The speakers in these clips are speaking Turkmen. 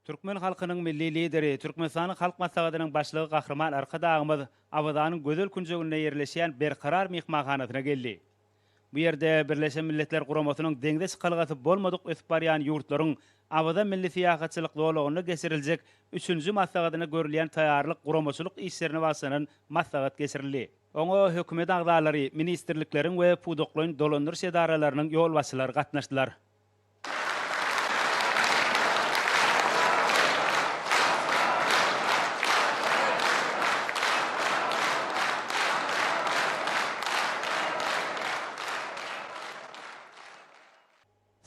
Türkmen halkynyň Milli Lideri, Türkmenistanyň Halk Maslahatynyň Başlygy Gahryman Arkadagymyz Awazanyň gözel künjeginde ýerleşýän Berkarar myhmanhanasyna geldi. Bu ýerde Birleşen Milletler Guramasynyň deňze çykalgasy bolmadyk ösüp barýan ýurtlaryň Awaza milli syýahatçylyk zolagynda geçiriljek üçünji maslahatyna görülýän taýýarlyk guramaçylyk işlerine bagyşlanan maslahat geçirildi. Oňa hökümet agzalary, ministrlikleriň we pudaklaýyn dolandyryş edaralarynyň ýolbaşçylary gatnaşdylar.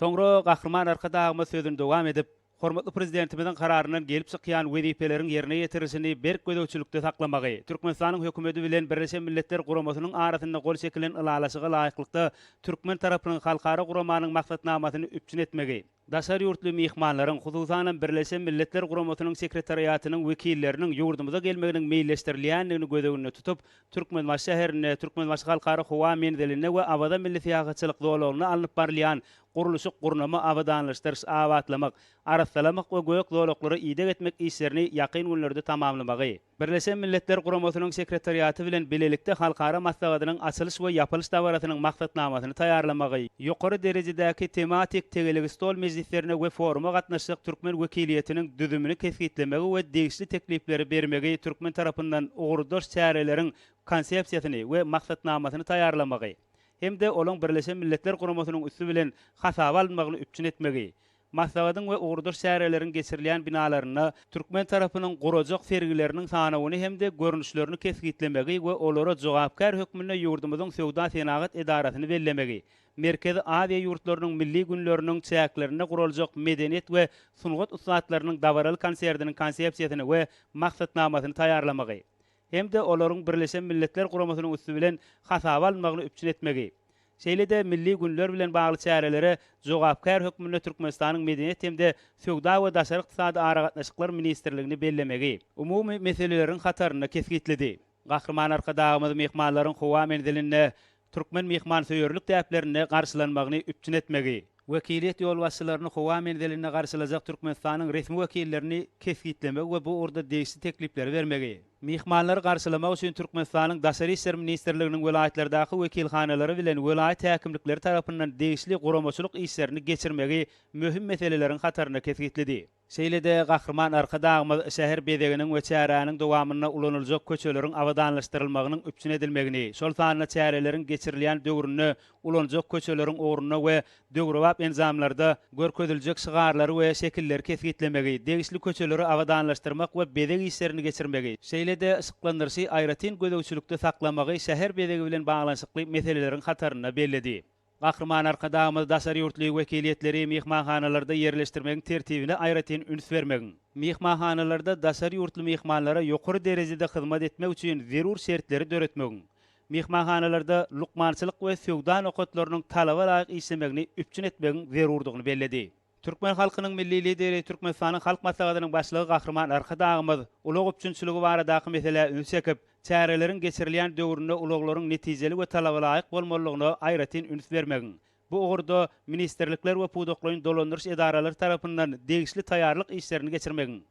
Soňra Gahryman Arkadagymyz sözüni dowam edip, Hormatly Prezidentimiziň Kararyndan gelip çykýan wezipeleriň ýerine ýetirilişini berk gözegçilikde saklamagy, Türkmenistanyň Hökümeti bilen Birleşen Milletler Guramasynyň arasynda gol çekilen Ylalaşyga laýyklykda türkmen tarapynyň halkara guramanyň maksatnamasyny üpjün etmegi, daşary ýurtly myhmanlaryň, hususanam Birleşen Milletler Guramasynyň Sekretariatynyň wekilleriniň ýurdumyza gelmeginiň meýilleşdirilýändigini göz öňünde tutup, Türkmenbaşy şäherinde, Türkmenbaşy Halkara howa menzilinde we Awaza milli syýahatçylyk zolagynda alnyp barylýan gurluşyk, gurnama, abadanlaşdyryş, abatlamak, arassalamak we gök zolaklara ideg etmek işlerini ýakyn günlerde tamamlamagy. Birleşen Milletler Guramasynyň Sekretariaty bilen bilelikde halkara maslahatynyň açylyş we ýapylyş dabarasynyň maksatnamasyny taýýarlamagy. Ýokary derejedäki tematik tegelek stol mejlislerine we foruma gatnaşjak türkmen wekiliýetiniň düzümini kesgitlemegi we degişli teklipleri bermegi türkmen tarapyndan ugurdaş çäreleriň Konsepsiýasyny we maksatnamasyny taýýarlamagy. hem-de olaň Birleşen Milletler Guramasynyň üsti bilen hasaba alynmagyny üpjün etmegi, maslahatyň we ugurdaş çäreleriň geçirilýän binalarynda türkmen tarapynyň gurajak sergileriniň sanawyny hem-de görnüşlerini kesgitlemegi we olara jogapkär hökmünde ýurdumyzyň Söwda-senagat edarasyny bellemegi, Merkezi Aziýa ýurtlarynyň milli günleriniň çäklerinde guraljak medeniýet we sungat ussatlarynyň dabaraly konsertiniň konsepsiýasyny we maksatnamasyny taýýarlamagy, hem-de olaryň Birleşen Milletler Guramasynyň üsti bilen hasaba alynmagyny üpjün etmegi, şeýle-de milli günler bilen bagly çärelere jogapkär hökmünde Türkmenistanyň Medeniýet hem-de söwda we daşary ykdysady aragatnaşyklar ministrligini bellemegi umumy meseleleriň hatarynda kesgitledi. Gahryman Arkadagymyz myhmanlaryň howa menzilinde türkmen myhmansöýerlik däplerinde garşylanmagyny üpjün etmegi, wekiliýet ýolbaşçylaryny howa menzilinde garşylajak Türkmenistanyň resmi wekillerini kesgitlemegi we bu ugurda degişli teklipleri bermegi, myhmanlary garşylamak üçin Türkmenistanyň Daşary işler ministrliginiň welaýatlardaky wekilhanalary bilen welaýat häkimlikleri tarapyndan degişli guramaçylyk işlerini geçirmegi möhüm meseleleriň hatarynda kesgitledi. Şeýle-de Gahryman Arkadagymyz şäher bezeginiň we çäräniň dowamynda ulanyljak köçeleriň abadanlaşdyrylmagynyň üpjün edilmegini, şol sanda çäreleriň geçirilýän döwründe ulanjak köçeleriň ugrunda we döwrebap enjamlarda görkeziljek şygarlary we şekilleri kesgitlemegi, degişli köçeleri abadanlaşdyrmak we bezeg işlerini geçirmegi, şeýle-de yşyklandyryşy aýratyn gözegçilikde saklamagy şäher bezegi bilen baglanyşykly meseleleriň hatarynda belledi. Gahryman Arkadagymyz daşary ýurtly wekiliýetleri myhmanhanalarda ýerleşdirmegiň tertibine aýratyn üns bermegiň, myhmanhanalarda daşary ýurtly myhmanlara ýokary derejede hyzmat etmek üçin zerur şertleri döretmegiň, myhmanhanalarda lukmançylyk we söwda nokatlarynyň talaba laýyk işlemegini üpjün etmegiň zerurdygyny belledi. Türkmen halkynyň Milli Lideri, Türkmenistanyň Halk Maslahatynyň Başlygy Gahryman Arkadagymyz ulag üpjünçiligi baradaky meselä üns çekip, çäreleriň geçirilýän döwründe ulaglaryň netijeli we talabalaýyk bolmalydygyna aýratyn üns bermegiň, bu ugurda ministrlikler we pudaklaýyn dolandyryş edaralary tarapyndan degişli taýýarlyk işlerini geçirmegiň,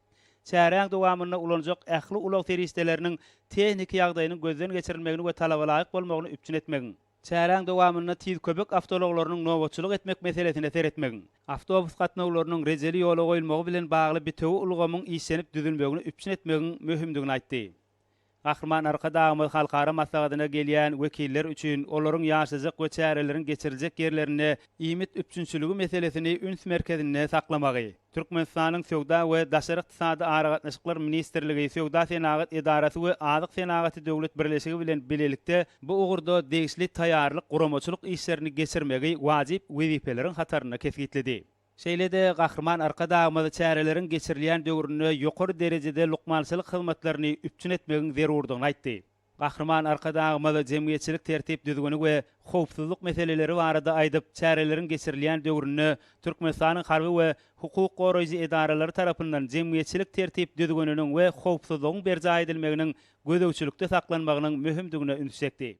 çäräň dowamynda ulanjak ähli ulag serişdeleriniň tehniki ýagdaýynyň gözden geçirilmegini we talabalaýyk bolmagyny üpjün etmegiň. Çäräň dowamynda tiz köpek awtoulaglarynyň nobatçylyk etmek meselesine seretmegiň, awtobus gatnawlarynyň rejeli ýola goýulmagy bilen bagly bitewi ulgamyň işlenip düzülmegini üpjün etmegiň möhümdigini aýtdy. Gahryman Arkadagymyz halkara maslahatyna gelýän wekiller üçin olaryň ýaşajak we çäreleriň geçiriljek ýerlerinde iýmit üpjünçiligi meselesini üns merkezinde saklamagy, Türkmenistanyň Söwda we daşary ykdysady aragatnaşyklar ministrligi, Söwda-senagat edarasy we Azyk senagaty döwlet birleşigi bilen bilelikde bu ugurda degişli taýýarlyk-guramaçylyk işlerini geçirmegi wajyp wezipeleriň hatarynda kesgitledi. Şeýle-de Gahryman Arkadagymyz çäreleriň geçirilýän döwründe ýokary derejede lukmançylyk hyzmatlaryny üpjün etmegiň zerurdygyny aýtdy. Gahryman Arkadagymyz jemgyýetçilik tertip-düzgüni we howpsuzlyk meseleleri barada aýdyp, çäreleriň geçirilýän döwründe Türkmenistanyň harby we hukuk goraýjy edaralary tarapyndan jemgyýetçilik tertip-düzgüniniň we howpsuzlygyň berjaý edilmeginiň gözegçilikde saklanmagynyň möhümdigine üns çekdi.